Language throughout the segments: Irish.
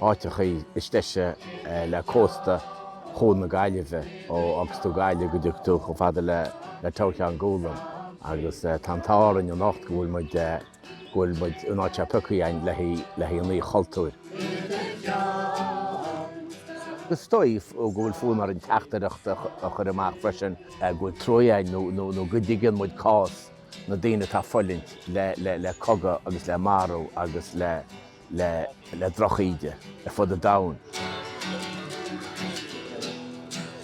háiteachaí is deise le cósta Chuan na Gaillimhe, ó fhágas tú Gaillimh go dtaga tú chomh fada le Túr Cheann Gólaim agus tá an t-ádh orainn anocht go bhfuil muid, go bhfuil muid in áit atá pioctha againn le haghaidh an Oíche Chultúir. Is dóigh go bhfuil fonn orainn teachtaireacht a chur amach freisin go bhfuil truaí againn nó nó go dtuigeann muid cás na daoine atá ag fulaingt le le le cogadh agus le marú agus le le le drochíde ar fud an domhain.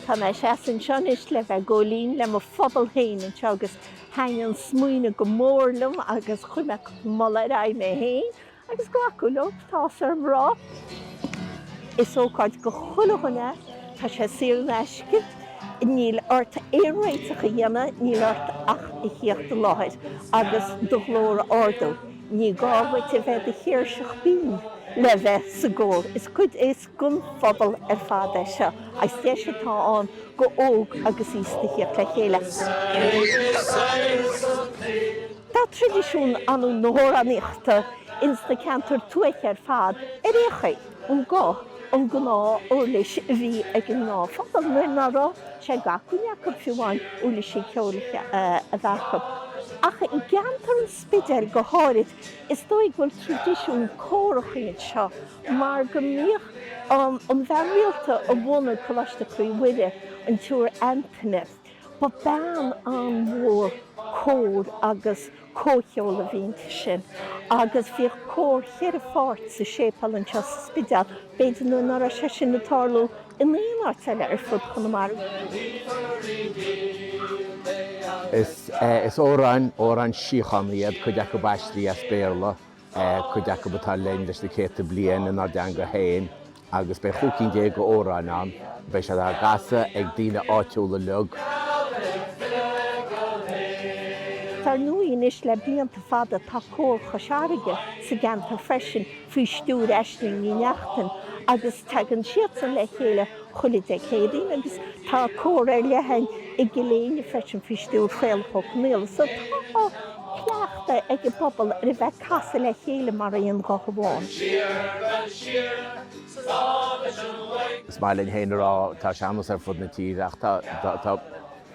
Tá mise anseo anois le bheith ag gabháil fhoinn le mo phobal féin anseo agus thaitnigh an smaoineamh go mór liom agus chuir mé cupla moladh ar aghaidh mé féin agus glacadh leo, tá áthas orm a rá. Is ócáid do chuile dhuine, tá sé saor in aisce, níl ort aon réiteach a dhéanamh, níl ort ach a thíocht i láthair agus do ghlór a ardú. Ní gá dhuit a bheith i do chéirseach bhinn le bheith sa gcór. Is cuid, is don phobal ar fad é seo agus deis atá ann do óg agus aosta a thíocht le chéile. Tá traidisiún ar ndóigh na hamhránaíochta ins na ceantair tuaithe ar fad arbh é an guth, an gnáthuirlis a bhí ag an ngnáthphobal nuair ná raibh sé d'acmhainn acu fiú amháin uirlisí ceoil a bheith acu. Ach i gceantar an. Spidéil go háirid, is dóigh go bhfuil traidisiún córachaí anseo mar go mbíodh an bhean rialta a bhunaigh Coláiste Chroí Mhuire, an tSiúr Antaine, ba bean an-mhór cóir agus comhcheoil a bhí inti sin agus bhíodh cór cheithre pháirt sa séipéal anseo sa Spidéal. B'fhéidir nuair ná raibh sé sin ag tarlú in aon áit eile ar fud Chonamara. Is ea, is amhráin, amhráin síochána iad cuid acu aistrithe as Béarla, cuid acu atá linn leis na céadta bliain inár dteanga féin agus beidh chúig cinn déag d'amhráin ann a mbeidh siad á gcasadh ag daoine áitiúla uilig. Dar ndóigh anois le blianta fada tá Cór Chois Fharraige sa gceantar freisin faoi stiúir Aisling Ní Neachtain agus tagann siadsan le chéile chuile Dé Céadaoin agus tá cór ar leith ann i gCill Éinne freisin faoi stiúir Chaolach Ó Conaola so tá cleachtadh ag an bpobal ar a bheith ag casadh le chéile mar aon ghuth amháin. Is maith linn féin a rá tá sean-nós ar fud na tíre ach tá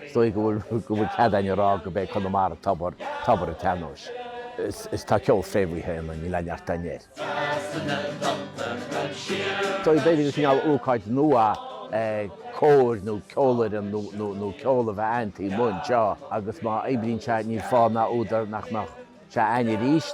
Is dóigh go bhfuil cead againn a rá gurb é Conamara tobar, tobar an tsean-nóis. Is tá ceol fréamhaithe ionainn, níl aon neart againn air. Is dóigh, b'fhéidir, gur cineál ócáid nua é cór nó ceolfhoireann nó ceol a bheith aitheanta mar seo, agus má oibríonn sé, níl fáth ná údar nach mbeadh sé againn arís.